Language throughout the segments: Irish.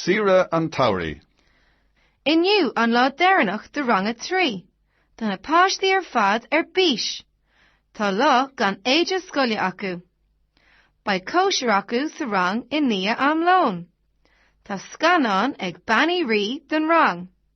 Saoire an tSamhraidh. Inniu an lá deireanach de rang a trí. Tá na páistí ar fad ar bís. Tá lá gan éide scoile acu. Beidh cóisir acu sa rang i ndiaidh am lóin. Tá scannán ag Bean Uí Rí don rang.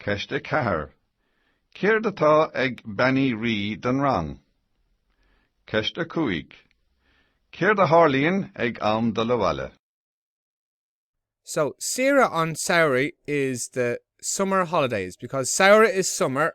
Ceist a ceathair, Céard atá ag Bean Uí Rí don rang? Ceist a cúig, Céard a tharlaíonn ag am dul abhaile? So, saoire an tsamhraidh is the summer holidays because samhradh is summer